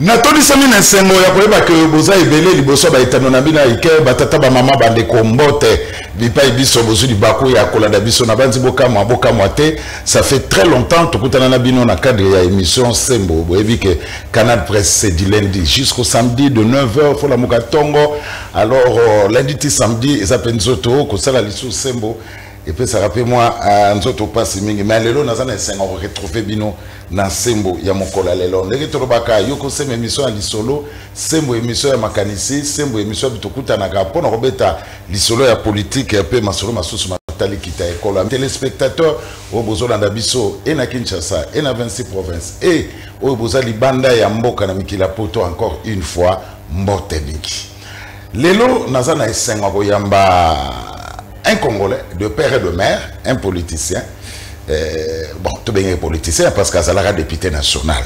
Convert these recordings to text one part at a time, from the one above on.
natondisami na nsengo ya koyeba ke boza ebele liboso ya baetano na bino ya ike batata bamama bandeko mbote bipai biso bozwi libaku ya kolanda biso na banzi bokamwa bokamwa te ça fait très longtemps tokutana na bino na cadre ya émission sembo boyebi ke canal presse c'est du lundi jusqu'au samedi de 9h folamuka ntongo alors euh, lundi ti samedi eza mpe nzoto kosala lisusu sembo epesaka mpe mwa euh, nzoto mpasi mingi mais lelo naza na esengo koretrouve bino na nsembo ya mokolo ya lelo ndenge tolobaka yo kosema emission ya lisolo sembo emission ya makanisi sembo emission bitokutanaka mpo na kobeta lisolo ya politike mpe masolo masusu matali kita ya ekolo telespectateur oyo bozolanda biso e na kinshasa e na 26 province e oyo boza libanda ya mboka na mikili ya poto encore une fois mbote mingi lelo naza na esengo ya koyamba un congolais de père et de mère un politicien euh, bon tobengaki politicien parce que azalaka député national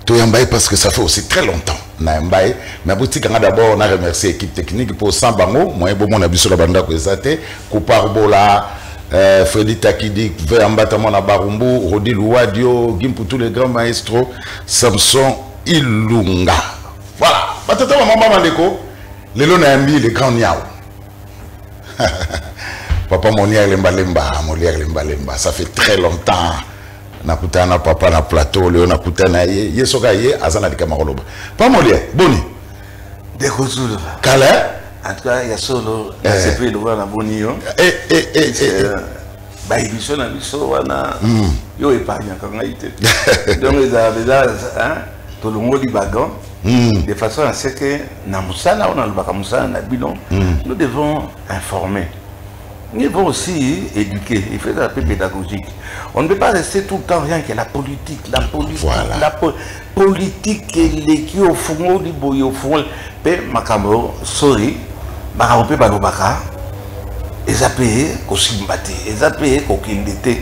toyamba ye parce que ça fait aussi très longtemps nayamba ye mais botika nga d'abord na remercie équipe technique mpo sans bango moyen bomona biso na bandako eza te koparbola euh, Freddy Takidi, Veambata Mona Barumbu, Rodi Louadio, Gimputu le grand maestro, Samson Ilunga. Voilà, batata maman ba bandeko, lelo na yambi le grand niao. papa Monier lemba lemba, Monier lemba lemba, ça fait très longtemps. nakutana papa na plateau leo nakutana ye ye soki aye aza na likama koloba pa molia boni ndeko zulu kala en tout cas ya solo nasepeli lokola na boni yo ba émission na biso wana hmm. yo épargnaka ngai te donc ezala mpenza hein, tolongoli badon hmm. de façon à ce que na mosala oyo nalobaka mosala na bino hmm. nous devons informer nous devons aussi éduquer il faut être un peu pédagogique on ne peut pas rester tout le temps rien que la politique la politique voilà. la po politique eleki ofungoli boye ofungoli mpe makambo sorry makambo mpe balobaka eza mpe kosimba te eza mpe kokende te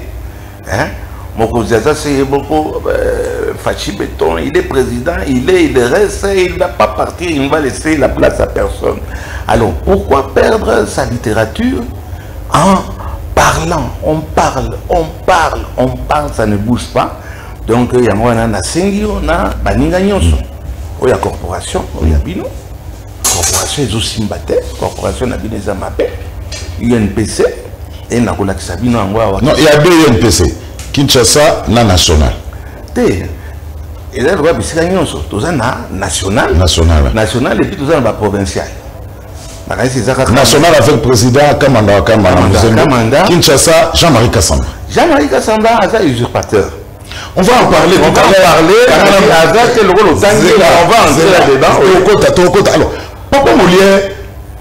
mokonzi aza se ye moko euh, fachi beton il est président il est il reste il va pas partir il va laisser la place à personne alors pourquoi perdre sa littérature en parlant on parle on parle on parle ça ne bouge pas donc yango wana nasengi yo na baninga nyonso oyo ya corporation oyo ya bino corporation ezosimba te corporation na bino eza mabe unpc e nakolakisa bino yango awa non ya be unpc kinshasa na national te eza lokola bisika nyonso toza na national national national epuis toza na baprovincial nakanisi eza kaka national avec président kamanda kamanda kinshasa jean marie kasamba jean marie kasamba aza usurpateur On va en parler on tout à l'heure. Alors, papa Molière, et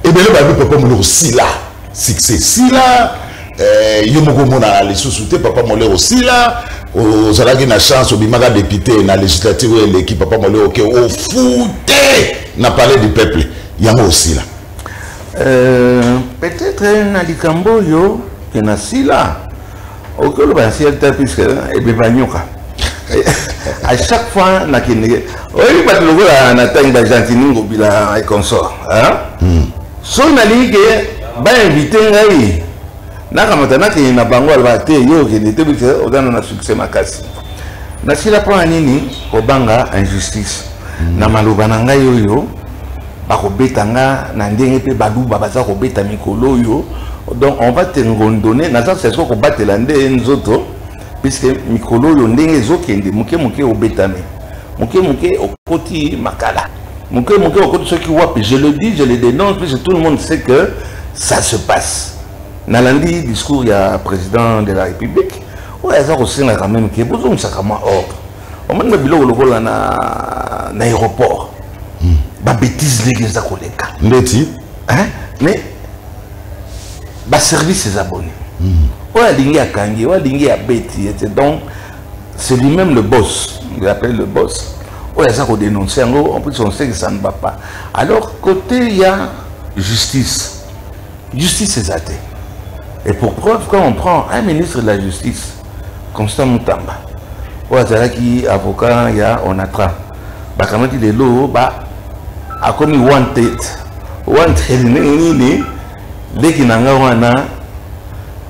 eh bien, le papa Molière, c'est là. succès sila eh, yo moko omonana lisusu te papa molero sila ozalaki na chance obimaka député na législative oyo eleki papa molero ke ofute na palais du peuple yango osila euh, peut-être na likambo oyo ke na sila okoki oloba na ciel te puisque ebeba nyoka à chaque fois nakendeke oyebi bato lokola na ntangi bagentini ngobila et consort hmm. soki nalingi ke bainvite ngai nakamata nakende na bango aloba te yo okende te bise ozana na succès makasi nasila mpona nini kobanga injustice hmm. na maloba na ngai oyo bakobeta nga na ndenge mpe baluba baza kobeta mikolo oyo donc on va te ngondone naza sesiko kobatela nde nzoto puisque mikolo oyo ndenge ezokende moke moke obetami moke moke okoti makala moke moke okoti soki wapi je le dis je le dénonce puisque tout le monde sait que ça se passe nalandi discours ya président de la république oyo aza kosengaka meme ke bozongisaka mwa ordre omoni babiloko lokola na na aéroport hmm. babétise ndenge eza koleka ndeti mais baservice eza boni hmm. oyo alingi akangi oyo alingi abeti ete donc c'est lui-même le boss il appelle le boss oyo aza kodénonce yango en plus on sait que ça ne va pas alors côté ya justice justice eza te et pour preuve quand on prend un ministre de la justice constant mutamba oyo azalaki avocat ya onatra bakamati lelo ba akomi wanted wanted ndenge nini leki na nga wana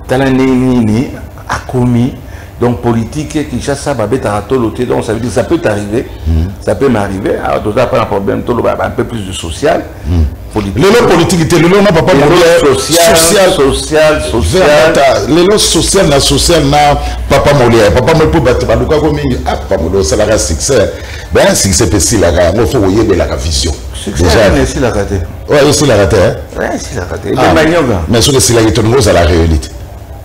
tala ndenge nini akomi donc politique kinshasa babetaka tolo te donc ça veut dire ça peut arriver mm. ça peut m'arriver alors toza pas na problème toloba un peu plus de social mm. lelo politiki te lelo na papa lelo social na social na papa molia papa moi mpo bato balukako mingi ah papa molia osalaka succès ben succès mpe esilaka yango fo koyebelaka vision esilaka te oyo esilaka te mais soki esilaki toningo ozala réunite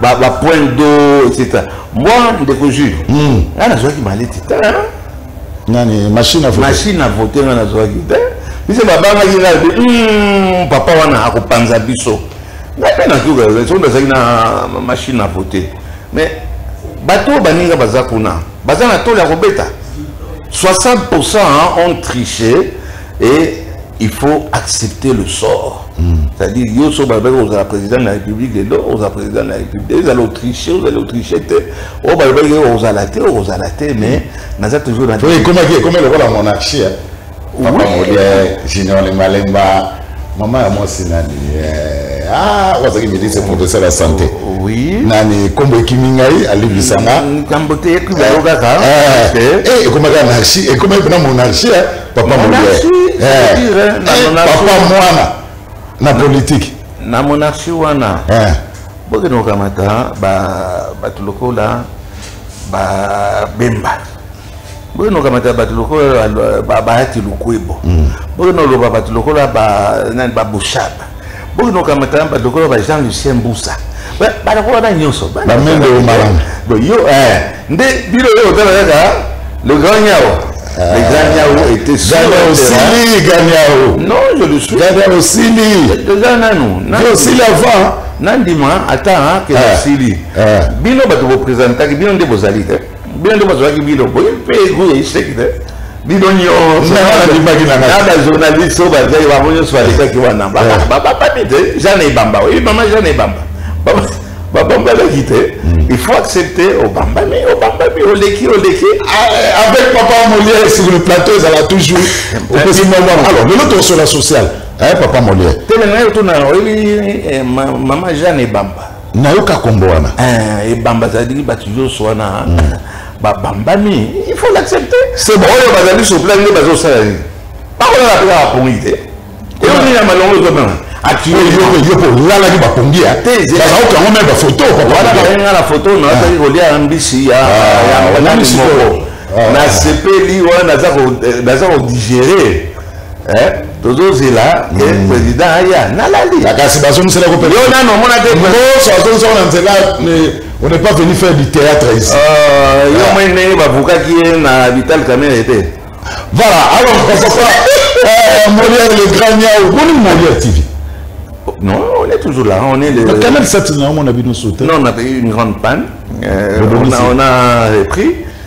ba ba point d'eau etc moi ndeko jules hmm. nga nazwaki maleti te nani machine à voter machine à voter nga nazwaki te biso babangaki nga lobi hmm, papa wana akopanza biso nga mpe nazuka soki nazalaki na machine à voter mais bato oyo baninga baza kuna baza na toli ya kobeta 60 pourcent ont triché et il faut accepter le sort mm. c'est-à-dire yo so balobaki ozala président de la république lelo ozala président de la république ezala otriche ozali otriche te oyo oh, balobaki ozala te ozala te mais mm. naza toujours na ekomaki ekomi lokola monarchie eh. papa molie eh, junior le malemba mama ya mwasi nani eh, ah, wazaki ministre professeur ya santé oh, oui nani kombo ekimi ngai alibisanga mm, kambo te ekomi kaka ekomaki anarchie ekomaki mpena monarchie papa monasui papa mwana na politiki na monarchie wana eh. bokende kokamata bato lokola babemba bokende kokamata bato lokola bahati lukwebo bokende koloba bato lokola babushaba boki nokamata bato lokola ba jean lucien mbusa banako wana nyonso bamende omalanga yo eh, nde bino oyo otala kaka le grand nyao ah. le grand nyao était sili ganyao non je le suis ganyao sili eza nanu osili avant nandima ata ke osili ah. ah. bino bato bopresentaki bino nde bozali te bino nde bazwaki bino boye mpe ego ya iseki te bino nyonsonana journaliste oyo bazali bango nyonso balekaki wana babami te jane ebamba oyebi mama jane ebamba babambalaki te hmm. il faut accepter obambami obambami oleki oleki ah, eh, avec papa molière sur le plateau ezala toujours opesi mwa alors lelo tosola social eh, papa molière te nanayo tuna oyebi eh, mama jane ebamba nayoka kombo wana eh, ebamba azali bato nyonso wana hmm. babambami il faut l'accepter c'est bon oyo bazali sur place nde bazosala nini bakolala mpe kaka pongi te eyo nini ya malongo ezobana akiyopo olalaki bapongi ya bazauka yango meme bafoto wana bayenga na foto nazalaki ah. kolia na mbisi ya ah, moko ah. nasepeli wana naza kodigere Eh, tozozela ke eh, hmm. président aya nalali ah, kasi bazongisela yo nano omona te nyonso azongisaka na nzela on n'est pas venu faire du théâtre ici euh, yo ah. moi ndenge bavukaki ye na vital kamere te voilà alors papa euh, molière le grand niao boni molière tv non on est toujours là on est le canal sat na omona bino sote non on a eu une grande panne euh, on a repris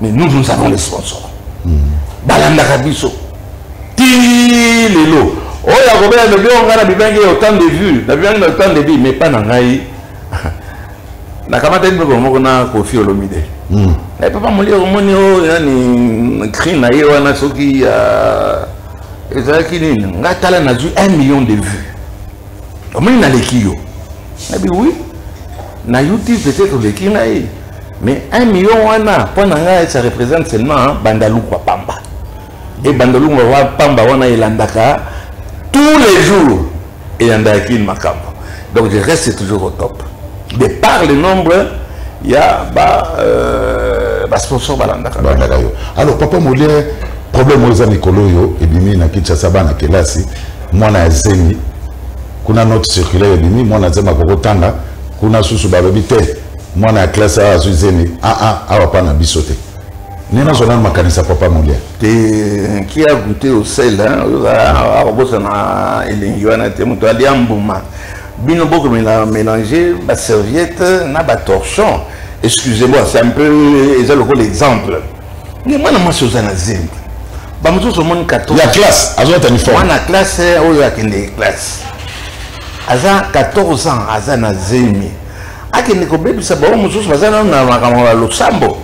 mais nous nous avons les sponsors hmm. balandaka biso ti lelo oyo akobela lobi oyo ngai nabibangi ya autant de vue nabibangi na autant de vie mais pas na ngai nakamataki biloko moko na kofi olomide hmm. na papa moli omoni oyo nani cri na ye wana soki ah, ezalaki nini ngai tala nazwi 1 million de vue omoni naleki yo nabi wi na youtube peut-être oleki ngai mais 1 million wana mpo na ngai ça représente seulement bandalukwa pamba e bandalukwa pamba wana elandaka tous les jours eyandaka kini makambo donc je reste toujours au top de par le nombre ya ba euh, basponsor balandaka balandaka yo alors papa molie problème oyo eza mikolo oyo ebimi na kinshasa bana kelasi mwana ya zemi kuna note circulaire ebimi mwana zemi akokotanga kuna susu balobi te mwana ya classe awa azwi zemi aa ah, ah, awa pa na biso te nde nazwa nano makanisa papa molia te ki a goute osel akobosana ah, elengi wana te moto alia mbuma bino bokomela mélange baserviette na batorchon excusez-moi c'est un peu eza lokola exemple nde mwana mwasi oza na zemi bamosusu omoni 14 ya classe azwa telefone mwana classe oyo akende classe aza 14 ans aza na zemi akende kobebisa bango mosusu baza nano na makambo ya losambo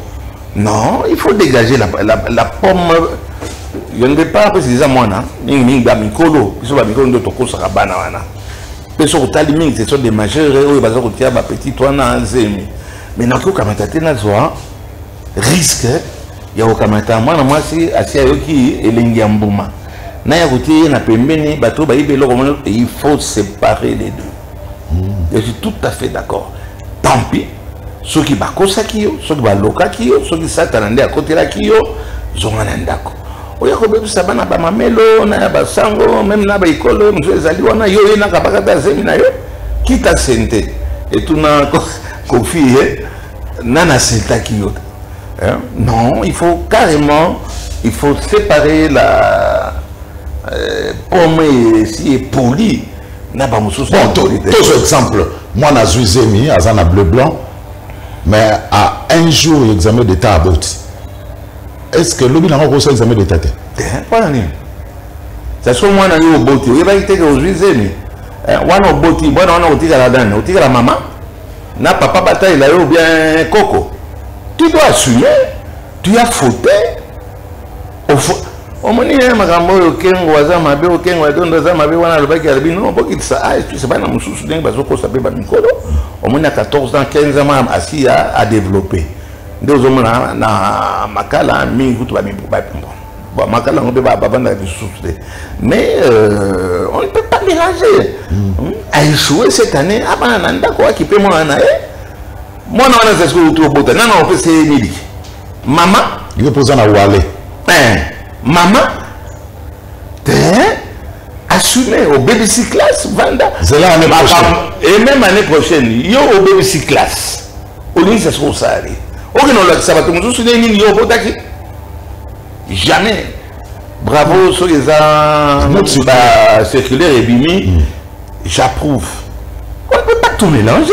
non il faut dégager la, la, la pomme je ne vais pas apesa eza mwana mingimingi bamikolo biso bamikolo nde tokosaka bana wana mpe soki otali mingi ce sont des majeurs oyo baza kotia bapetite wana zemi mais nakoki kokamata te nazwa risque ya kokamata mwana mwasi asi ayoki elengi ya mbuma na ya kotie ye na pembeni bato bayibi eloko mona il faut séparer les deux je suis tout à fait d'accord tant pis soki bakosaki yo soki balokaki yo soki satana nde akotelaki yo zonga na ndako oya kobebisa bana bamamelo na ya basango meme na baekolo mosusu ezali wana yo ye nakabakata zemi na yo kita sente etuna kofi ye nani asiltaki yo hein? non il faut carrément il faut séparer la euh, pomme esi epoli na ba mususu bon to to exemple moi na zui zemi aza na bleu blanc mais à un jour examen d'état aboti est ce que lobi na ko ça examen d'état te pona nini ça so moi na yo oboti oyebaki te ke ozui zemi eh, wana oboti bwana wana otikala dani otikala mama na papa batalela yo bien koko tu dois assumer tu as fauté omoni ye makambo oyo kengo aza mabe oyo kengo atondo aza mabe wana alobaki alobi no bokitisa aekisa ah, bana mosusu ndenge bazokosa mpe bamikolo omoni ya 14 ans 15 ans asi ya adeveloppe nde ozomona na makala mingi kutu makala yango mpe bavandaka lisusu te mais euh, on ne peut pas mélanger hmm. aechoue cette année abana ah, na ndako akipe mwana na ye mwana wana zaziki outi obota nana opesa ye miliki mama yo mpoza na wale eh, mama te eh, assume obebisi classe vanda zela année prochaine et même année prochaine yo obebisi classe olingisa soki osali okende olakisa bato mosusu nde nini yo obotaki jamais bravo soki eza bacirculaire ebimi hmm. j'approuve on ne peut pas tout mélanger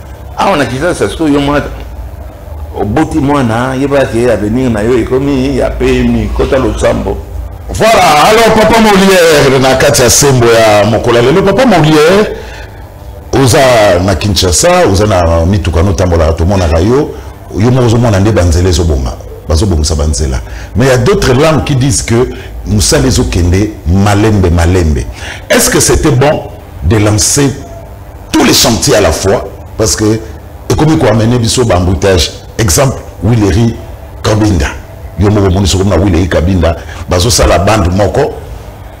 awa na kisasa siko yo mwana oboti mwana yebaka ke avenir na yo ekomi ya pemi kota losambo voilà alors papa moliere na kati ya sembo ya mokolo ya lelo papa moliere oza na kinshasa oza na mituka notambolaka tomonaka yo yo moko ozomona nde banzela ezobonga bazobongisa banzela mais ya d'autres langues qui disent que mosala ezokende malembe malembe est ce que c'était bon de lancer tous les chantiers à la fois parce que ekomi koamene biso baemboutage exemple wileri kabinda yo moko omoni sokomi na wileri kabinda bazosala bande moko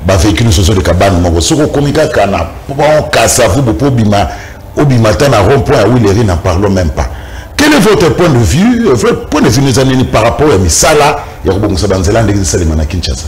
bavéhicule nyonso ezoleka bande moko soki okomi kaka na pont kasavubu mpo obima obima ata na rond point ya wileri na parlons même pas quel est votre point de vue votre point de vue neza nini par rapport ya misala ya kobongisa banzela ndenge esalema na kinshasa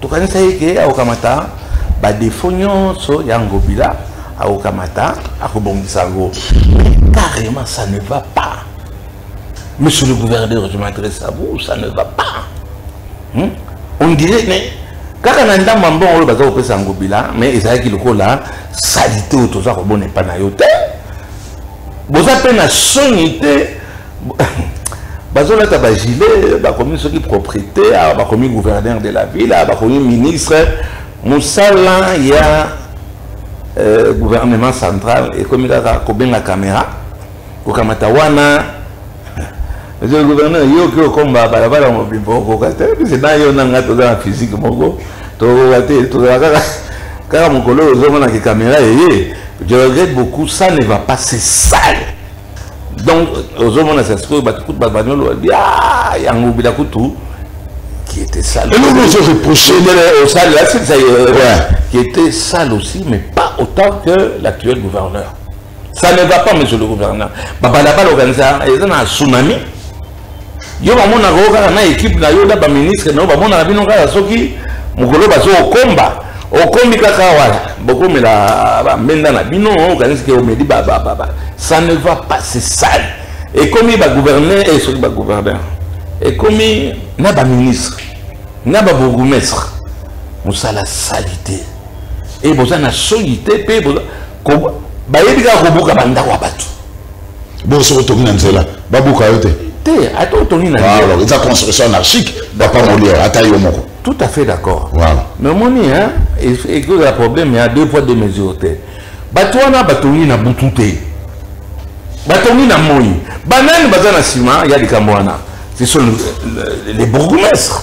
tokanisaki ke akokamata badefo nyonso ya ngobila akokamata akobongisa yango mais carrément ça ne va pas monsieur le gouverneur je m'adresse à vous ça ne va pas hmm? on dirait mais kaka na ndambo ya mbongo oyo baza kopesa ngobila mais ezalaki lokola salite oyo toza kobona epai na yo te boza mpe na soni te bazolata bagilet bakomi soki propriété awa bakomi gouverneur de la ville awa bakomi ministre mosala ya euh, gouvernement central ekomi kaka kobenga caméra kokamata wana monsieur le gouverneur yo oki okomba balabala mobimba okoka te bise na yo na ngai toza na physique moko tokoka te tozala kaka kaka mokolo oyo ozomona ke caméra eye je regrette beaucoup ça ne va pas se sale donc ozomona sa sikoyo bato kutu bato bani oloba bia yango bila kutu qui était sale eloko ozo reproche osalela euh, silisa euh, qui était sale aussi mais pas autant que l'actuel gouverneur ça ne va pas monsieur le gouverneur babalabala okanisa eza na tsunami yo bamonaka yo kaka na ekipe na yo na baministre na yo bamonaka bino kaka soki mokolo bazo okomba okomi kaka wana bokomela bambenda na bino okanisi ke omeli babababa ça ne va pas se sale ekomi bagouverneur e eh, soki bagouverneur ekomi na baministre na babourgoumestre mosala sali te e boza na soyi te mpe bayebi kaka kobuka bandako ya bato Bon, soki otongi na nzela babuka yo te te ata otongi na nzela eza construction anarchique papa moliere ata yo moko tout à fait d'accord voilà. mais omoni ekozala problème ya deux poids deux mesures te bato wana batongi na butu te batongi na moi banani baza na nsima ya likambo wana ce sont les bourgmestres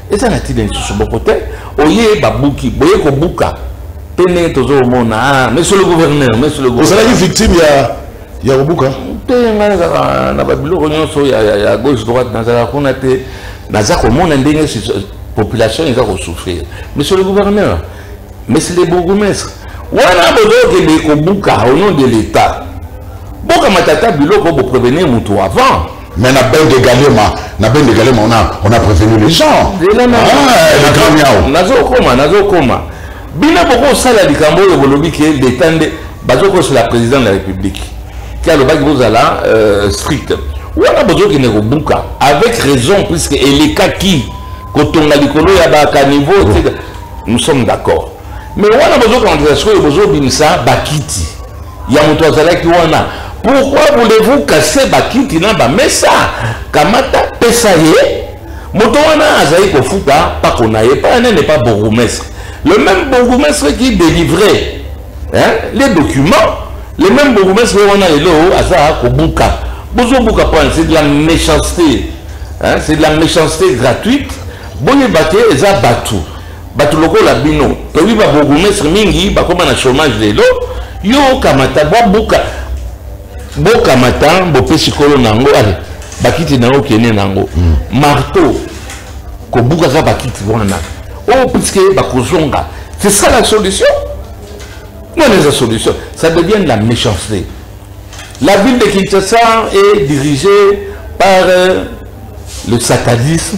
eza na ntina lisusu boko te oye babuki boye kobuka mpe ndenge tozomona ah, monsieur le gouverneur monsieur le ozalaki victime ya ya kobuka te ngai kaka na babiloko nyonso ya gauche droite nazalaka kuna te naza komona ndenge population eza kosouffrir monsieur le gouverneur monsieur le bourgmestre wana bozokende kobuka au nom de l'état bokamata ata biloko boprevenir motu avant Mais la belle de Galema, la belle de Galema, on a, on a prévenu les gens. Eh, non, non, ah, le grand miao. Nazo koma, nazo koma. Bina boko sala likambo yo bolobi ke l'État nde bazo ko la président de la République. Ki alobaki bozala euh, strict. Wana bozo kende ko buka avec raison puisque elekaki kotonga likolo ya ba caniveau, etc. Nous sommes d'accord. me wana bozokanisa sikoyo bozobimisa bakiti ya moto azalaki wana pourquoi voulez-vous casser bakiti na bamesa kamata pesa ye moto wana azali kofuta pako na ye paya nene pa bourgoumestre le même bourgoumestre qui délivrait hein, les documents le même bourgoumestre ye wana lelo aza kobuka bozobuka mpona c'est de la méchanceté hein, c'est de la méchanceté gratuite boyeba te eza bato Bato lokola bino toyebi ba bourgmestre mingi bakoma na chômage lelo yo okamata babuka bokamata bopesi kolo na yango ale bakiti na yo okende na yango hmm. marteau kobukaka bakiti wana oyo oh, puiske bakozonga c'est ça la solution wana eza solution ça devient de la méchanceté la ville de kinshasa est dirigée par euh, le satanisme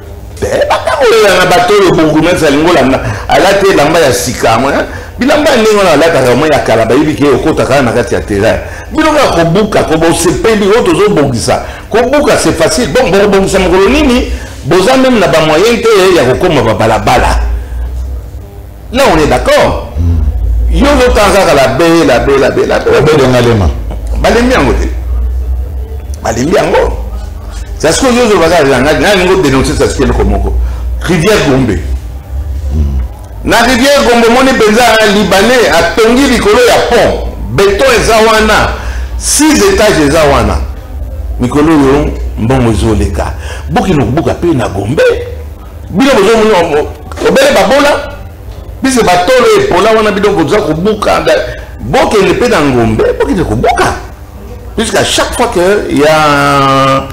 Eh, batangolela na bato oyo bongumesi alingi olanda alati elamba ya sika eh? bilamba ya ndenge wana alataka mwa ya kala bayebi ke okota kaka na kati ya terrain bino kaka kobuka kobosepeli oyo tozobongisa kobuka c'est facile bon bokobongisa mokolo nini boza meme na bamoyen te ya kokoma babalabala Là, on est d'accord. Yo, le temps, la la baie, la baie, la baie. La baie de Ngalema. Balembi yango te. Balembi yango. C'est ce que yo, je vais regarder. N'a yango dénoncer ça, c'est le komoko. Rivière Gombe. Na rivière Gombe, mon penza libanais a tongi likolo ya pont. Béton et zawana. Six étages et zawana. Mikolo yo, mbongo ezoleka. Bokino kubuka pe na Gombe. bino bozomona obele babola bise batolo epola wana bino boza kobuka bokende mpe na ngombe bokende kobuka puisque à chaque fois que ya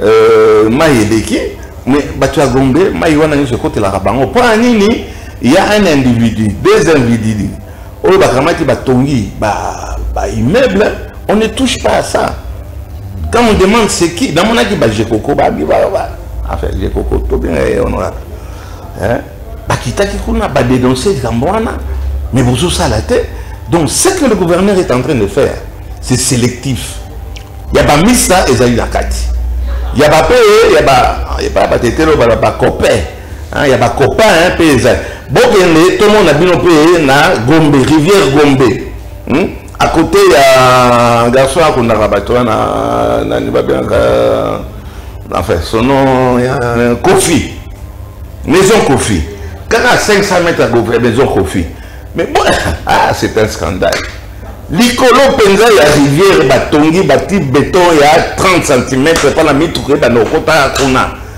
euh, mai eleki mais bato ya gombe mai wana nyonso ekotelaka bango mpo na nini ya un individu deux individus oyo bakamati batongi ba, ba immeuble on ne touche pas à ça quand on demande c'est qui namonaki bajekoko babi enfin jekoko tobenga ye honorable bakitaki kuna badénonce likambo wana mais bozosala te donc ce que le gouverneur est en train de faire c'est sélectif ya bamisa ezali na kati ya bape ya batetelo bala bakope Hein, ya ba copain hein, pe eza bokende tomona bino pe na gombe rivière gombe hmm? à côté ya garçon akundaka bato wana nani babengaka enfin son nom ya kofi maison kofi kaka à 500 mètres ya maison kofi mais bon ah, c'est un scandale likolo mpenza ya rivière batongi bati beton ya 30 cm mpo na mituka ebanda kokota kuna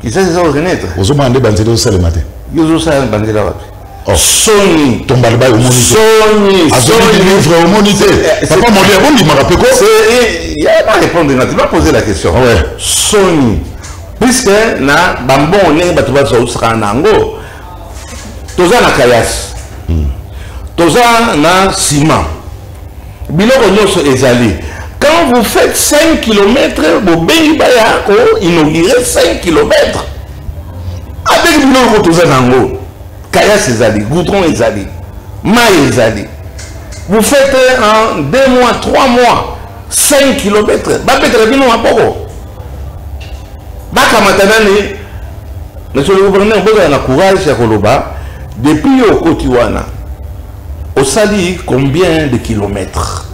Kisasi eza renaître. Ozomona nde banzela osalema te. Yo ozosala banzela wapi? Oh. soni tombalibai omoni soni azongi livre omoni te eh, eh, papa moli abondimaka mpe ko yaba répondre na te bapose la question ah soni puisque na bambongo ndenge bato bazosakana na yango toza na kayasi hmm. toza na ciment biloko nyonso ezali quand vous faites 5 km bobengi baya ko inaugure 5 km avec biloko toza nango kayas ezali goudron ezali mai ezali vous faites en 2 mois 3 mois 5 km babetela bino maboko bakamata nani monsieur le gouverneur bozala na courage ya koloba depuis yo okoti wana osali combien de kilomètres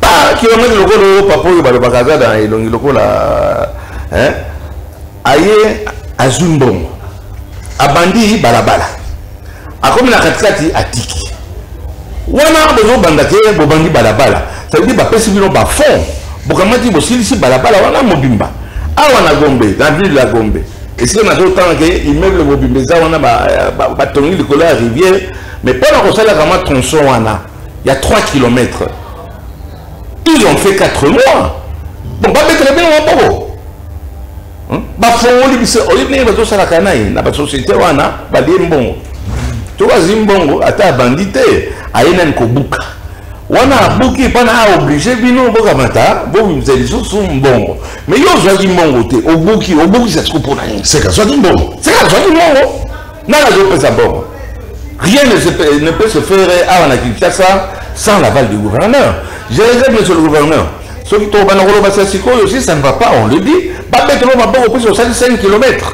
par kilomètre lokola oyo papa oyo balobaka aza na elongi lokola aye azwi mbongo abandi balabala akomi na katikati atiki wana bozobanda te bobandi balabala cetadire bapesi bino bafond bokamati bosilisi balabala wana mobimba awa na gombe na ville ya gombe esika nazotanga ke immeuble mobimba eza wana batongi likolo ya rivière mais mpo na kosala kama tronçon wana ya 3 km ils ont fait 4 mois bon babetela bino maboko bafongoli biso oyebi ndenge bazosalaka na ye na basociété wana balie mbongo soki azwi mbongo ata abandi te aye nani kobuka wana abuki mpona aoblige bino bokamata bobimisa lisusu mbongo Mais yo ozwaki mbongo te, obuki, obukisa siko mpo na nini? Seka azwaki mbongo. Seka azwaki mbongo. Nani azopesa mbongo? Rien ne, se, ne peut se faire awa na Kinshasa sans l'aval du gouverneur. Je réserve monsieur le gouverneur. Soki tobanda koloba sa sikoyo, si ça ne va pas, on le dit. Babetelo maboko mpo osali 5 kilomètres.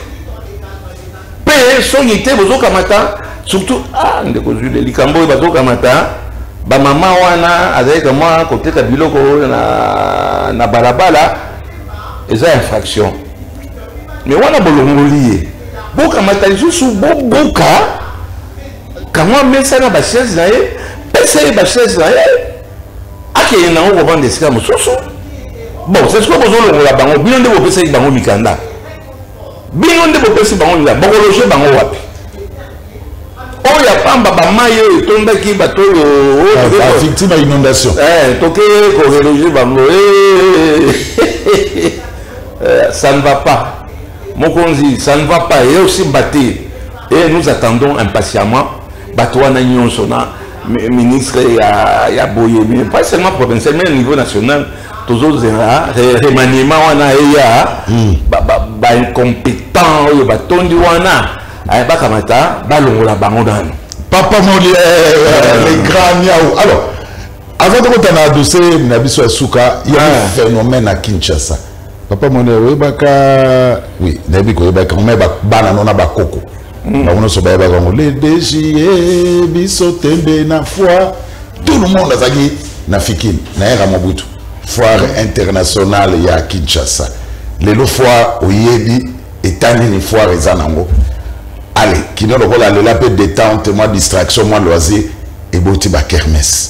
Pe songi te bozo kamata surtout ah ndeko Jules likambo oyo bazo kamata ba mama wana azali kama koteka biloko na na balabala eza infraction mais wana bolongoli ye bokamata lisusu bobuka kango amesa na bachaise na ye pesa ye bachaise na ye akende nango kovanda esika mosusu bon sesiko bozolongola bango bino nde bopesaki bango mikanda bino nde bopesi bango nzala bokologe bango wapi oyo ya pamba bamai oyo etondaki bato oyoacti ba inondation eh, toke koreloge bango eh, eh, ça ne va pas mokonzi ça ne va pas eosimba te et nous attendons impatiemment bato wana nyonso na ministre ya, ya boye mais pas seulement provincial mais niveau national tozozela remaniement wana eya hmm. baincompétent oyo batondi wana eh, bakamata balongola bango nano papa moli eh, eh, le grand niau alors avant tokotana dose na biso ya suka ya ah. phénomène ya kinshasa papa moni oyebaka oui nayebi koyebaka me bana no na bakoko hmm. bango nyonso bayebaka yango le degie biso tembe na foi tout le monde azalaki na fikini na era mobutu foire internationale ya kinshasa lelo foire oyebi etani ni foire eza nango ale kino lokola lela mpe détente mwa distraction mwa loisir eboti bakermese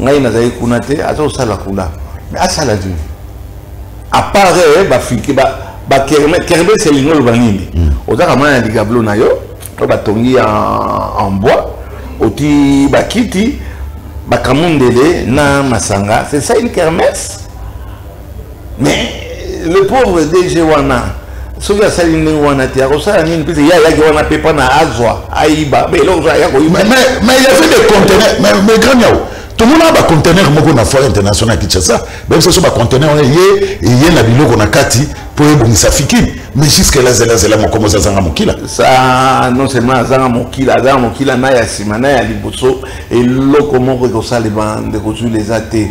ngai nazali kuna te aza kosala kuna mais asala nini apart eh, bafrike bakermes elingi oloba nini hmm. ozaka mwana ya ligablo na yo oyo batongi en bois oti bakiti bakamundele na masanga c'est ça une kermesse mais le pauvre dg wana soki asali ndenge wana te akosala nini pese ye ayaki wana mpe mpo na azwa ayiba mpe eloko aya koyibamais il y avait des contenaires mais grand yao tomona bacontenaire moko na foire international ya kinshasa bayebisa biso bacontenaire wana ye eye na biloko na kati mpo ebongisa fikini mais jusque là zela zela mokomo oza azanga mokila sa non seulement azanga mokila azanga mokila na ya nsima na ya liboso eloko moko ekosalema ndeko zuli eza te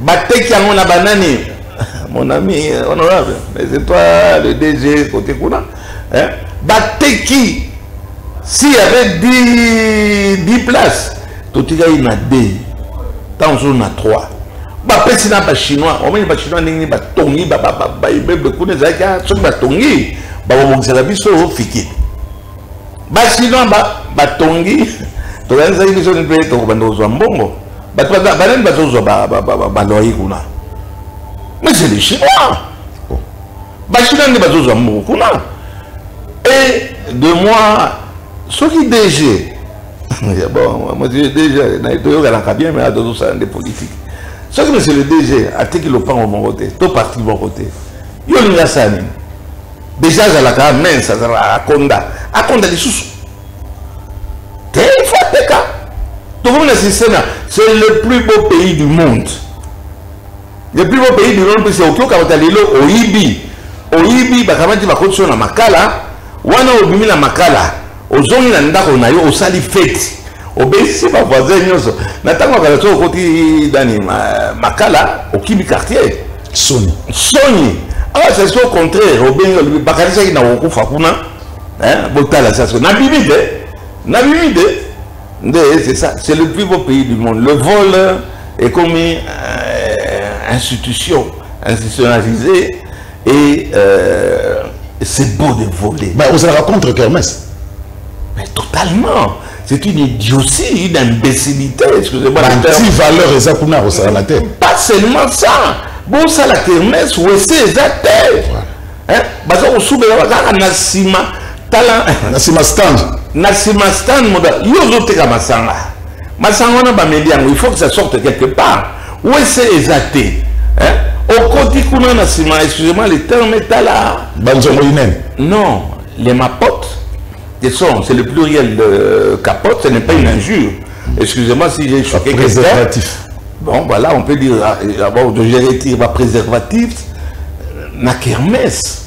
bateki yango na banani mon ami euh, honorable mais c'est toi le dg côté kuna hein? bateki si y avait 10, 10 places totikaki na 2 ntango mosusu na 3 bapesi na bachinois omoni bachinois ndenge nini batongi baibeble kuna ezalaki ah, soki batongi bakobongisaka biso fiki bachinois batongi tokanisaki biso ni mpe tokobanda kozwa mbongo bato banani bazozwa baloye kuna mais c'est le chinois bachinois nde bazozwa mbongo kuna et de moi soki dg bon dg toyokanaka bien mais tozosala nde politique soki monsieur le dg ateki lopango moko te to parti moko te yo olingi asala nini Deja azalaka mince, azalaka akonda. Akonda lisusu. Te il faut ateka. Tokomi na système c'est le plus beau pays du monde. Le plus beau pays du monde c'est okioka kota lelo oyibi. Oyibi bakamati bakotisi yo na makala, wana obimi na makala. ozongi na ndako na yo osali feti obesisi bavoisin nyonso na ntango ya kala soki okoti dani makala okimi quartier soni soni awa sasi au contraire obengi olobi bakanisaki na kokufa kuna botala sasi nabimi te nabimi te nde c'est ça c'est le plus beau pays du monde le vol ekomi euh, institution institutionnalisée et euh, c'est beau de voler mais vous allez contre kermesse mais totalement c'est une idiotie une imbécilité excusez-moi anti valeur eza kuna kosalana te pas seulement ça bosala kermesse wese eza te hein? baza kosubela bazalaka na nsima tala na nsima stand na nsima stand moda yo ozoteka masanga masanga wana bameli yango il faut que ça sorte quelque part wese eza te eh? okoti kuna na nsima excusez-moi le terme etala banzongo inene non les mapotes ce sont c'est le pluriel de capote ce n'est pas une injure excusez-moi si j'ai choqué quelqu'un bon voilà on peut dire ah, ah, bon, je retire ma préservatif na kermesse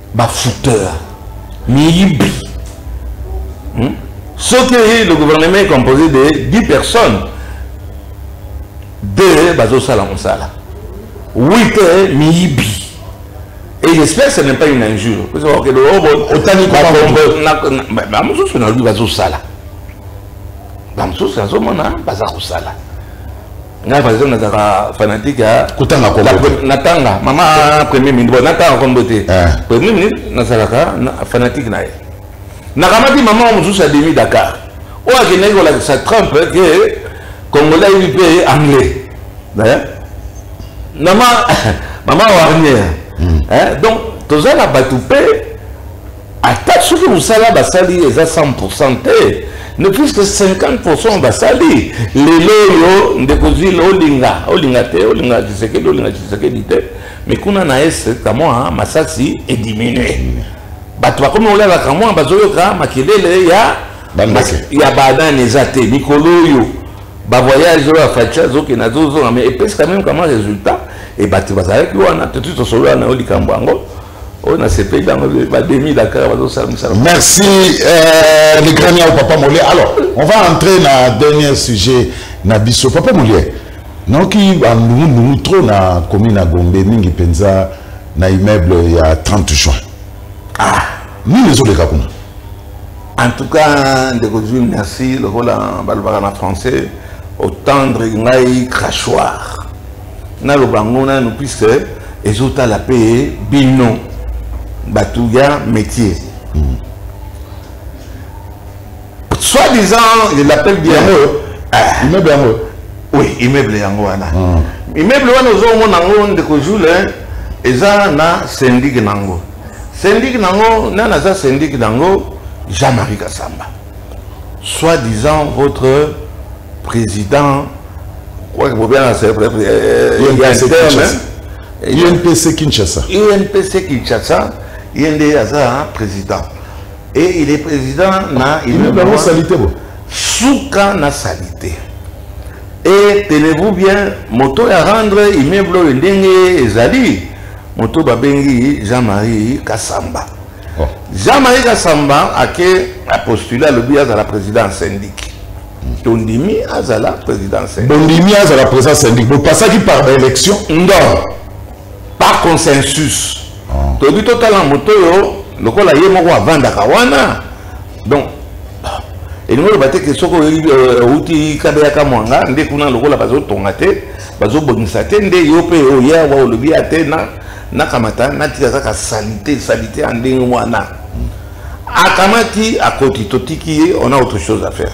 ba fouteur miyibi hmm? soki le gouvernement est composé de 10 personnes deux bazosala mosala 8 miyibi Et j'espère que ce n'est pas une injure. Vous savez que le robot, autant qu'il peut pas mosusu na lui bazosala bamosusu nazomona baza kosala ngai par exemple nazalaka fanatique ya kotanga kombo natanga mama premier ministre bon natanga kombo te eh. premier ministre nazalaka fanatique na ye nakamati mama mosusu ya demi dakar oyo akendaki kolakisa trump ke congolais ayebi mpe anglais eh? mama mama warnier hmm. eh? donc toza na bato mpe ata soki mosala basali eza 100 te ne plus que 50 basali lelo oyo ndeko zile olinga olinga te olinga tshisekedi olinga tshisekedi te mais kuna na est kamwa masasi ediminue bato bakomi kolala kamwa bazoyoka makelele ya ya banani eza te mikolo oyo bavoyage oyo afaci azokende azozonga mais epesi kameme kamwa résultat e bato bazalaki wana totuti tosolola na yo likambo yango oyo nasepeli yango bademi dakar bazosala mosala merci euh, le grand yao papa molie alors on va entrer na dernier sujet na biso papa molie naoki bandungundu trop na commune ya gombe mingi mpenza na immeuble ya 30 juin ah nini ezoleka kuna en tout cas ndeko zui merci lokola balobaka na français otendre ngai crachoir naloba yango nanu puisque ezotala mpe bino bato ya métier mm. soit disant je l'appelle bien yango ah. immeuble yango oui immeuble yango wana ah. immeuble wana ozomona yango ndeko jule eza na syndic na yango syndic na yango nani aza syndic na yango jean marie kasamba soit disant votre président quoi que vous bien c'est vrai UNPC Kinshasa UNPC Kinshasa yende aza président et il est président na il est dans salité bon suka na salité et tenez-vous bien moto ya rendre immeuble oyo ndenge ezali moto babengi Jean-Marie Kassamba oh. jean marie kasamba ake apostule alobi azala président syndique tondimi azala président syndique bondimi azala président syndique bopasaki par baélection non par consensus oh. toyebi totala moto oyo lokola ye moko avandaka wana donc elingi oloba te ke soki outi euh, kabeyaka mwanga nde kuna lokola bazotonga te bazobongisa te nde yo mpe oya wa olobi ya te na nakamata natika kaka salite salite ya ndenge wana akamati akoti totiki ye on a autre chose à faire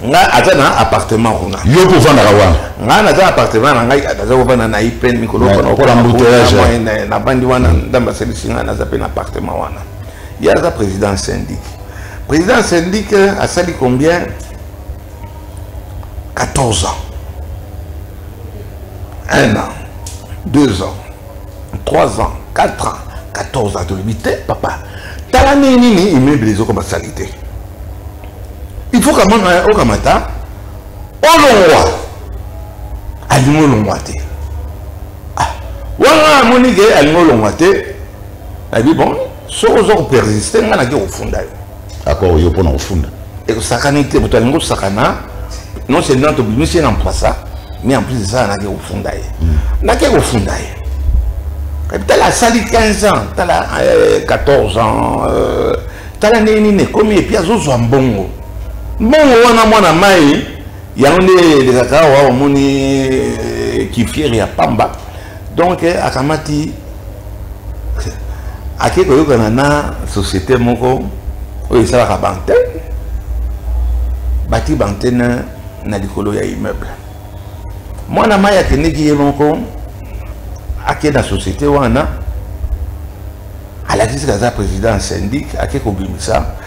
nga aza na appartement kuna yo mpe ofandaka wana nga naza appartement na ngai naza kofanda na ipn mikolo nabandi wana ndambe asalisi ngai naza mpe na appartement wana ye aza président syndic président syndic asali combien 14 ans 1 an 2 ans 3 ans 4 ans 14 ans tolobi te papa tala ndenge nini immeuble ezokoma sali te il faut kamana okamata olongwa alingi olongwa te ah, wana amoni ke alingi olongwa te nayebi bon soki oza kopersiste ngai nake kofunda yo D'accord, yo pona ofunda. Et que ça canne te, botalingo hein? sakana. Non seulement to bimisi na mpasa, mais en plus de ça na ke ofunda ye. Hmm. Na ke ofunda ye. Quand tu as sali 15 ans, tu as 14 ans, euh, tu as l'année nini, combien et puis azo zo mbongo. Mbongo wana mwana mai, yango nde elekaka awa omoni eh, kifiere ya pamba donc eh, akamati ake koyokana na société moko oyo esalaka bantene bati bantene na likolo ya immeuble mwana mai akendeki ye moko ake na société wana alakisi kaza président ya syndic ake kobimisa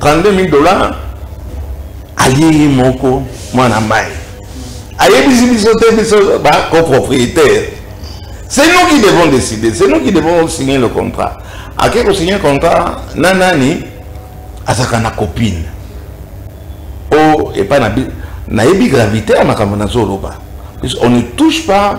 32000 dollars alie ye moko mwana mai ayebisi biso te biso bacopropriétaire c'est nous qui devons décider c'est nous qui devons signer le contrat ake kosigne contrat na nani azalaka na copine o epai na nayebi gravité ya makambo nazoloba on ne touche pas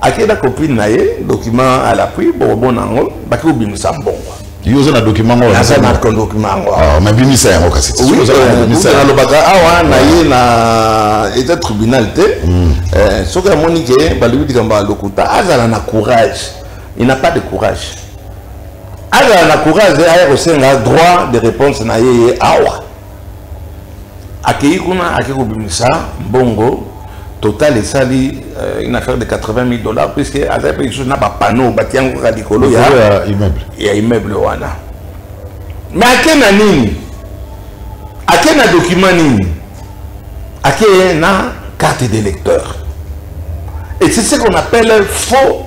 ake na copine na ye document à l'appui bokobona yango baki kobimisa mbongo yo oza na document yango naza na document yango ah, mabimisa yango kasi euh, nalobaka awa na ye na etat tribunal te hmm. euh, soki amoni ke balobi likambo ya lokuta azala na courage il n'a pas de courage azala na courage aya kosenga droit de réponse na ye ye awa akeyi kuna ake kobimisa mbongo total esali euh, une affaire de 80 000 dollars puisque azali mpe lisusu na bapanneau bati yango kaka likolo ya immeuble wana mais ake na nini ake na document nini ake na carte d'électeur et c'est ce qu'on appelle faux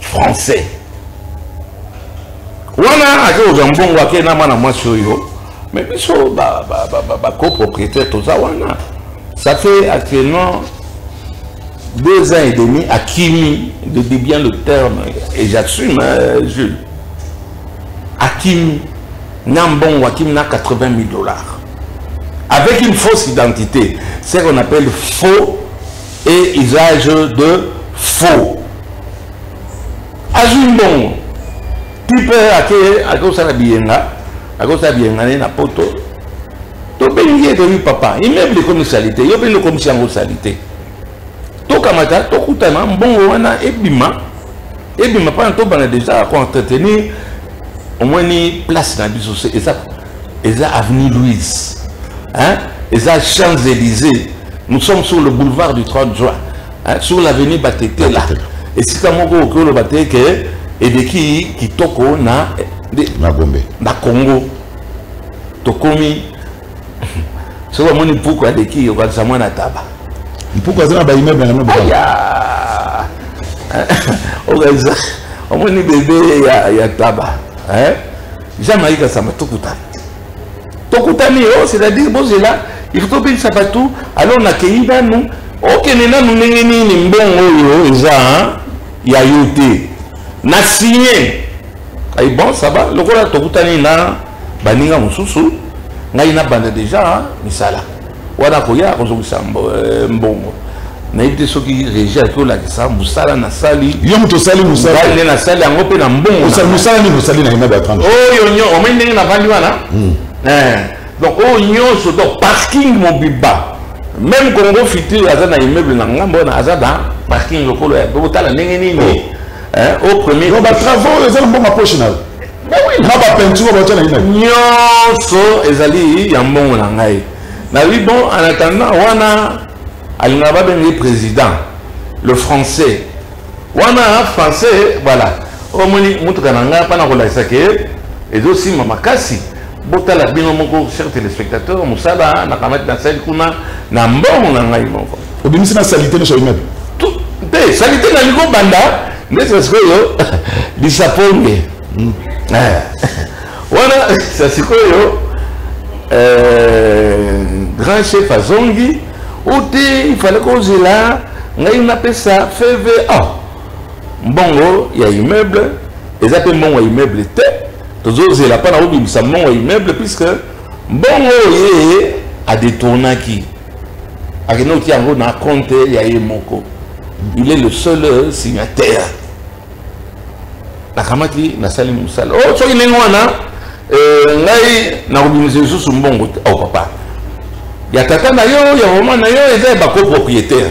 français wana ake kozwa mbongo ake na mwana mwasi oyo mais biso bacopropriétaire toza wana ça fait actuellement deux ans et demi akimi de bien le terme et j'assume hein, jules akimi na mbongo akimi na 80 000 dollars avec une fausse identité ce qu'on appelle faux et usage de faux azwi mbongo tipe ake akosala biyenga akosala biyenga ne na poto tobengi ye toyebi papa immeuble ekomi salite yo mpe lokomisi yango salite tokamata tokutana mbongo wana ebima ebima mpona tobanda deja koentretenir omoni place na biso se eza eza avenue louise hein? eza champs élysées nous sommes sur le boulevard du 30 juin hein? sur l'avenue batetela esika moko okoki oloba te ke eleki kitoko na na gombe na congo tokomi soki omoni mpuku aleki okanisa mwana taba mpuku aza na baimeble yango okanisa omoni bebe ya, ya taba eh? jean marie kasamba tokutani tokutani yo oh, c'est-à-dire bozela il faut tobelisa bato alors nakeyi nanu okende oh, nanu ndenge nini mbongo oyo oh, eza ya yo te na signe ayi bon ça va lokola tokutani na baninga mosusu ngai nabanda deja hein, misala wana akoya akozongisa euh, mbongo nayebi te soki regi ake olakisa mosala nasali yo moto osali mosalane nasali yango mpe na mbongomosala nini osali na yema batran oyo nyo omai ndenge navandi wana hmm. eh, donc oyo nyonso donc parking mobiba même congo futur aza na immeuble na ngambo wana aza na parking lokolo ya botala ndenge nini oh. eh, au premier batravaux eza na mbongo ya poche na yo na bapeinture batya na ina nyonso ezali ya mbongo na ngai nalobi bon en attendant wana alingaka babenge président le français wana français voilà omoni motuka na ngai mpana kolakisa ke ezosima makasi botala bino moko cher téléspectateur mosala nakamati nasali kuna na mbongo na ngai moko obimisi na salite nyonso oyimabi te salite nani kobanda ndesa sikoyo lisaponge hmm. eh. wana sa sikoyo eh, grand chef azongi o te ifale kozela ngai napesa feve ah. mbongo ya immeuble eza mpe mbongo ya immeuble te tozozela mpo na kobimisa mbongo ya immeuble puisque mbongo oyo ye adetournaki akende kotia yango na compte ya ye moko il est le seul euh, signataire nakamati nasali mosala o oh, soki ndenge wana euh, ngai nakobimisa lisusu mbongo te o oh, papa ya tata na yo ya mama na yo eza ya bacopropriétaire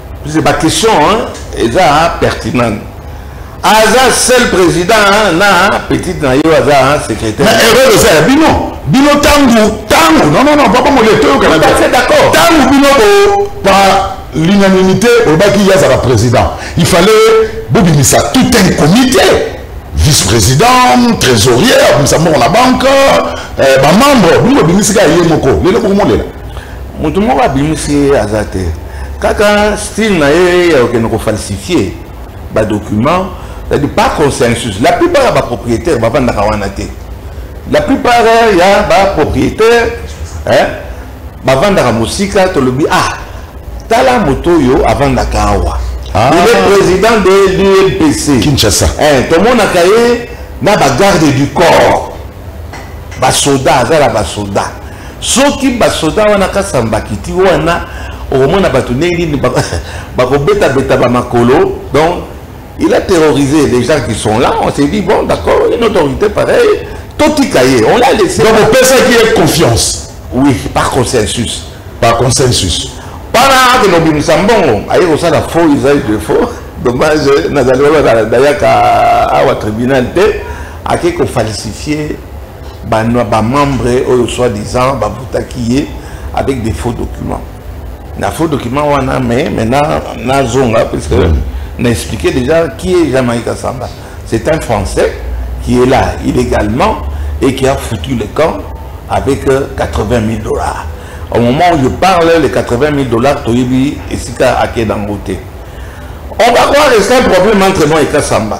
c'est ba question hein eza hein, pertinent aza seul président hein, na hein, petite na yo aza hein, secrétaire mais erreur eza ya bino bino tangu tangu non non non papa mole toyokana d'accord tangu bino bo par l'unanimité olobaki ye azala président il fallait bobimisa tout un comité vice-président trésorier abimisa moko na banque euh, bamembre bino bobimisika ye moko lelo bokomolela moto moko abimisi ye aza te kaka style na ye ya kokende kofalsifie badocument cetadi pas consensus la plupart ya bapropriétaire bafandaka wana te la plupart ya bapropriétaire bafandaka mosika tolobi ah tala moto oyo afandaka awa ah. il est président de l'UMPC Kinshasa eh, tomonaka ye na bagarde du corps basoda aza na basoda soki basoda wana kasambakiti wana okomona bato ndenge nini bakobetabeta bamakolo donc il a terrorisé les gens qui sont là on s'est dit bon d'accord une autorité pareille totika ye on l'a laissé donc opesaki ye confiance oui par consensus par consensus wana akende kobimisa mbongo aye kosala faux usage de faux dommage nazali wana nayaka awa tribunal te ake ko falsifier ba ba membre oyo soit disant ba butaki ye avec des faux documents na faux documents wana mais maintenant na zonga puisque mm. na expliqué déjà qui est Jamaïque Samba c'est un français qui est là illégalement et qui a foutu le camp avec 80 euh, 000 dollars au moment où je parle les 80 000 dollars toyebi esika ake dangote on va croire que c'est un problème entre moi et Kassamba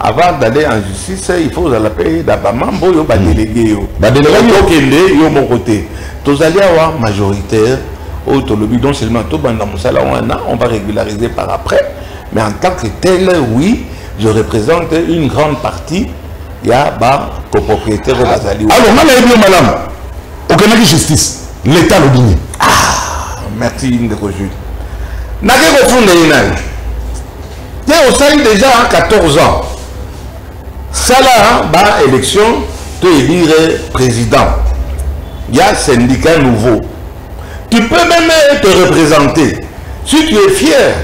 avant d'aller en justice il faut ozala mpe na bamambo oyo badelege yo badelege okende yo moko te tozali awa majoritaire oyo tolobi non seulement tobanda mosala wana on va régulariser par après mais en tant que tel oui je représente une grande partie ya bacopropriétaire oyo bazali alors nga nayebi yo malamu okendaki justice l'état alobi nini ah, merci ndeko jude nake kofunda ye nani te osali deja 14 ans sala ba élection to élire président ya syndicat nouveau tu peux même te représenter si tu es fier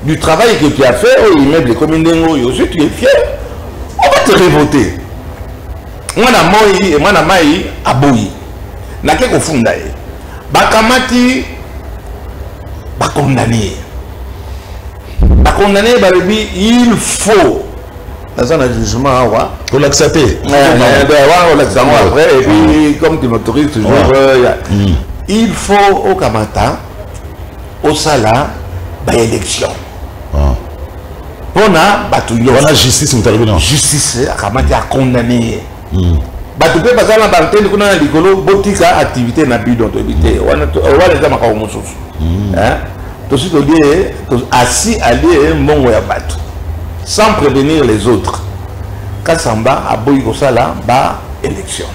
du travail que tu as fait au immeuble ekomi ndenge oyo si tu es fier on va te revoter mwana moi mwana mai aboyi nake kofunda ye bakamati bakondane ye ba condamner ba lobi il faut naza na jugement awa kolakisa te olakisa yango après et puis comme tu m'autorises toujours il faut okamata osala baélection mpona bato nyonso justice akamati acondamne ye hmm. bato mpe baza na baantene kuna na likolo botika activité na bidon toyebi te hmm. wana eza makambo mosusu hmm. tosi tolie asi alie mbongo ya bato sans prévenir les autres kasamba aboyi kosala ba élection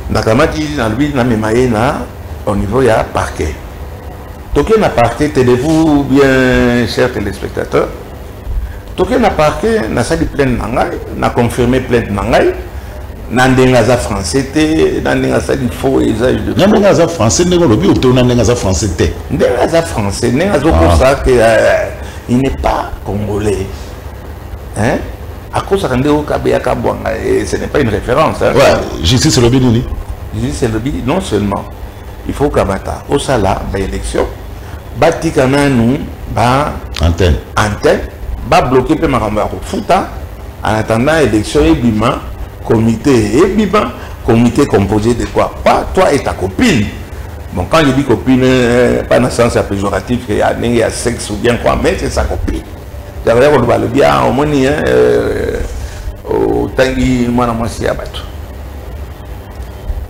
nakamati nalobi namema ye na au niveau ya parquet toke na parquet tenez-vous bien chers téléspectateurs toke na parquet nasali plainte na ngai na confirme plainte na ngai na ndenge aza français te na ndenge asali faux usage de na ndenge aza français ndenge olobi oto na ndenge aza français te ndenge aza français ndenge azokosa ke ah. euh, il n'est pas congolais hein akosaka nde okabeyaka bwanga ce n'est pas une référence hein? ouais, justice elobi nini justice elobi non seulement il faut kamata osala ba élection batika nanu ba antenne antenne babloke mpe makambo ya kofuta en attendant élection ebima comité ebima comité composé de quoi pas toi et ta copine bon quand je dis copine euh, pas na sens ya péjoratif ya ndenge ya sexe ou bien quoi mais c'est sa copine jakoya koloba alobi a omoni otangi mwana mwasi ya bato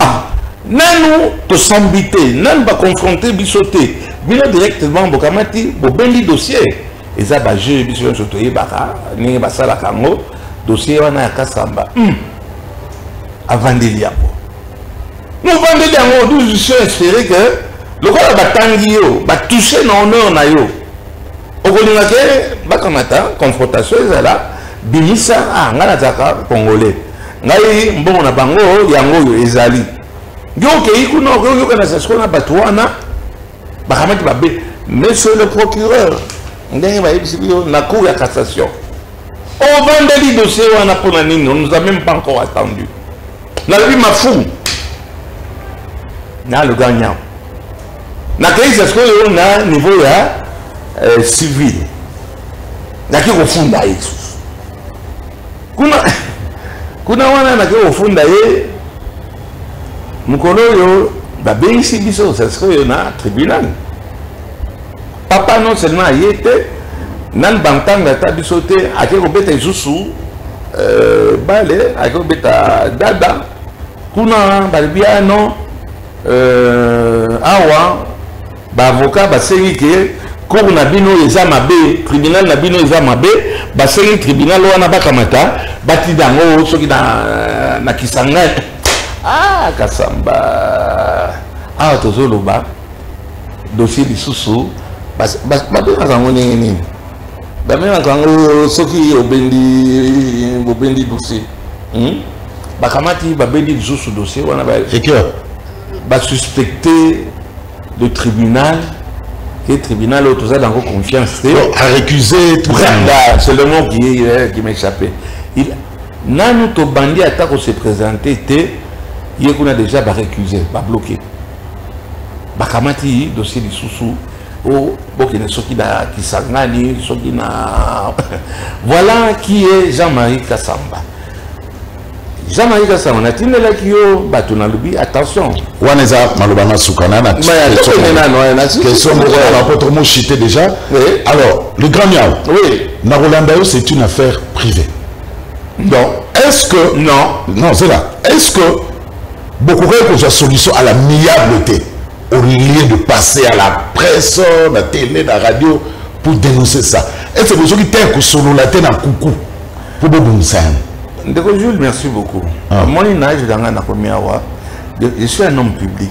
ah nanu tosambi te nanu baconfronte biso te bino directement bokamati bobendi dossier eza bajeu biso nyonso toyebaka ndenge basalaka yango dossier wana ya kasamba mm. avandeli yango mobandeli yango nous espere que lokola batangi yo batouche na honneur na yo okolinga ke bakamata confrontation ezala bimisa ah, ngai nazalaka congolais ngai mbongo na bango yango oyo ezali yo okei kuna okoyokana sasiko na bato wana bakamati babe monsieur le procureur ndenge bayebisi biyo na cour ya cassation ovandeli dossier wana mpo na nini on nous a même pas encore attendu nalobi mafumu na le grand nyam nakei sasikoyo na niveau ya euh, civil naki kofunda ye lisusu kuna kuna wana nake kofunda ye mokolo oyo babengisi biso sasikoyo na tribunal papa non seulement aye te nani bantanga ata biso te ake kobeta lisusu euh, bale ake kobeta dada kuna balobi ah non euh, awa baavocat basengi ke cour na bino eza mabe tribunal na bino eza mabe basengi tribunal wana bakamata batinda yango soki na, na kisangani ah kasamba awa tozoloba dossier lisusu babengaka yango ndenge nini babengaka yango soki obendi bobendi dossier hmm? bakamati babendi lisusu dossier wana basuspecte le tribunal et tribunal oyo toza nango confiance te arécuse branda c'est le mot qui, euh, qui m'échappait nanu tobandi ata kose présente te ye kuna déjà barécuse babloke bakamati dossier lisusu o bokende soki na kisangani soki na voilà qui est jean-marie kasamba jean-marie kasamba natindelaki yo bato nalobi attention wana eza maloba na suka na question moko ya bapoto moshite déjà alors le grand miao oui. nakolanda yo c'est une affaire privée donc est-ce que non non c'est là est-ce que bokokaki kozwa solution à l'amiable te au lieu de passer à la presse na télé na radio pour dénoncer ça ete bozoki te kosolola te na kuku mpo bobongisa yango ndeko jules merci beaucoup ah. omoni na age na ngai nakomi awa je suis un homme public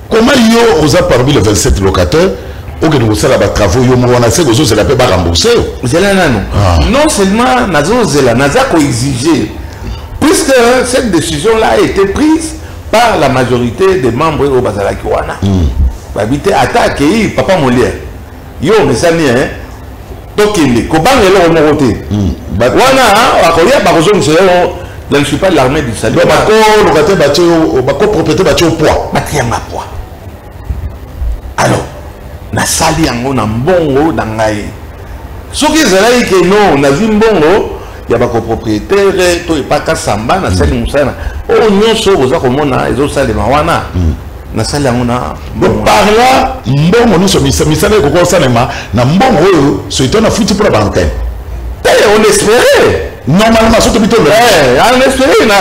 Comment yo oza parmi les 27 locataires okende kosala batravaux yo moko wana se kozozela mpe barembourse yo zela nano ah. non seulement nazozela naza koexige puisque cette décision là a été prise par la majorité des membres oyo bazalaki wana hmm. babi te ata akei papa molière yo omesani hein tokende kobanga eloko moko te hmm. wana bakoya bakozongisa yo je ne suis pas l'armée du salut bakoloka te batye bakopropriété batye yo poids batiyanga poids alors nasali yango na mbongo na ngai soki ezalaki ke no nazwi mbongo ya bakopropriétaire to epaka samba nasali hmm. mosala oyo nyonso oyo boza komona ezosalema wana hmm. nasali yango na parla mbongo nyonso misala ekoki kosalema na mbongo oyo soito nafuti mpo na baantene te on espere normalement soki bito eh, on espere na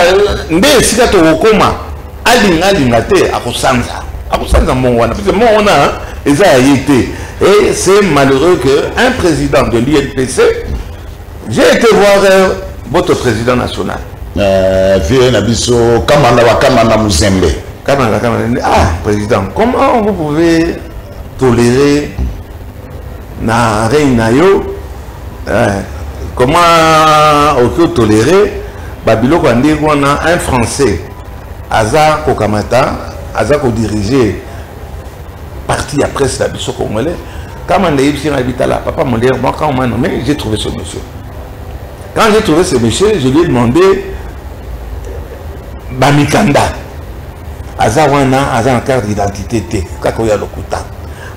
nde esika tokokoma alinga alinga te akosanza akosanza mbongo wana parce mbongo wana eza ya ye te et c'est malheureux que un président de l'INPC J'ai été voir euh, votre président national. Euh, vieux na biso Kamanda wa Kamanda Muzembe. Kamanda Kamanda. Ah, président, comment vous pouvez tolérer na règne na yo euh, comment auto tolérer babiloko ya ndenge wana un français aza kokamata aza kodirige partie ya presse na biso congolais kama ndeyebisi ngai bitala papa modere moi quand on m'a nommé j'ai trouvé ce monsieur quand j'ai trouvé ce monsieur je lui ai demandé bamikanda aza wana aza na carte d'identité te kaka oyo ya lokuta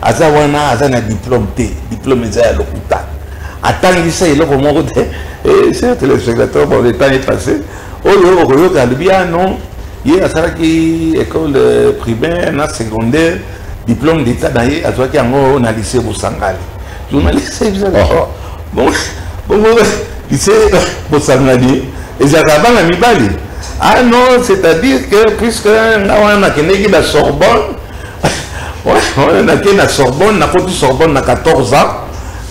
aza wana aza na diplôme te diplôme eza ya lokuta atangisa eloko moko te eh, certes le spectateur bon le temps est passé oyo okoyoka alobi ah non ye asalaki école euh, primaire na secondaire diplôme d'état na ye azwaki yango na lycée bosangani journaliste oh. bongo lycée bosangani ezalaka bana mibali ah non c'est-à-dire que puisque nga wana nakendeki na sorbonne nakei na sorbonne nakoti sorbonne na 14 ans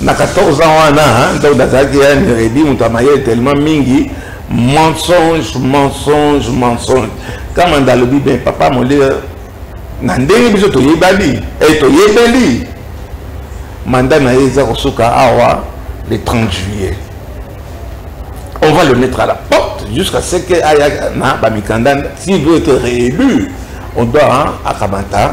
na 14 ans wana ntango nazalaki ya neredi moto ya mayele tellement mingi mensonge mensonge mensonge kamanda alobi bien papa molia na ndenge biso toyebani e eh, toyebeli manda na ye eza kosuka awa le 30 juillet on va le mettre à la porte jusqu'à ce que aya na bamikanda s'il veut être réélu on doit akamata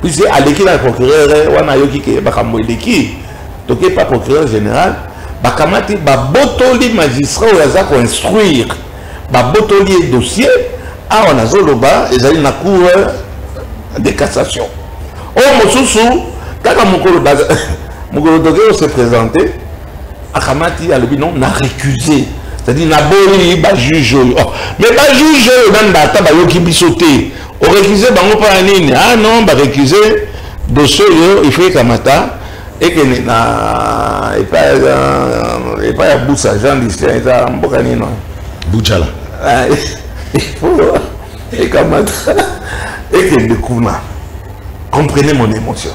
puisque aleki na procureur eh, wana ayoki ke makambo eleki toke pa procureur général bakamati babotoli magistrat oyo aza koinstruire babotoli ye dossier awa nazoloba ezali na cour eh, de cassation oyo oh, mosusu kaka mokolo mokolo toke ose présente akamati alobi non na récuse c'est-à-dire naboyi bajuge oyo oh, mais bajuge oyo nani baata bayoki biso te orecuse bango mpo ya nini ah non barecuse dossier oyo il faut ekamata ekende na epai ya busa jean lucien eza mboka nino bujala ah, ifo ekamata ekende kuna comprenez mon émotion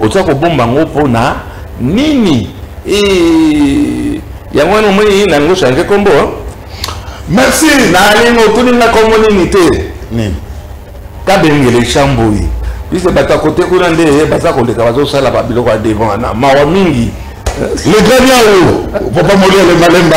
oza kobomba yango mpo na nini yango wana omoni nango change kombo merci nalingo otuni nga kombo nini te nini kabengele chamboi bise bato ya kote kuna nde baza koleka bazosala babiloko ya devant wana mawa mingi le grand yao papa moliele malemba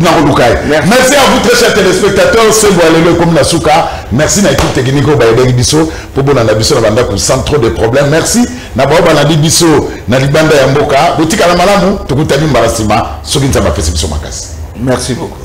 nakoluka ye merci à vous très chers téléspectateurs sembo ya lelo ekomi na suka merci na équipe technique oyo bayebaki biso mpo bolanda biso na bandako sans trop de problème merci na baoyo balandi biso na libanda ya mboka botikala malamu tokutani mbala nsima soki nzambe apesi biso makasi merci beaucoup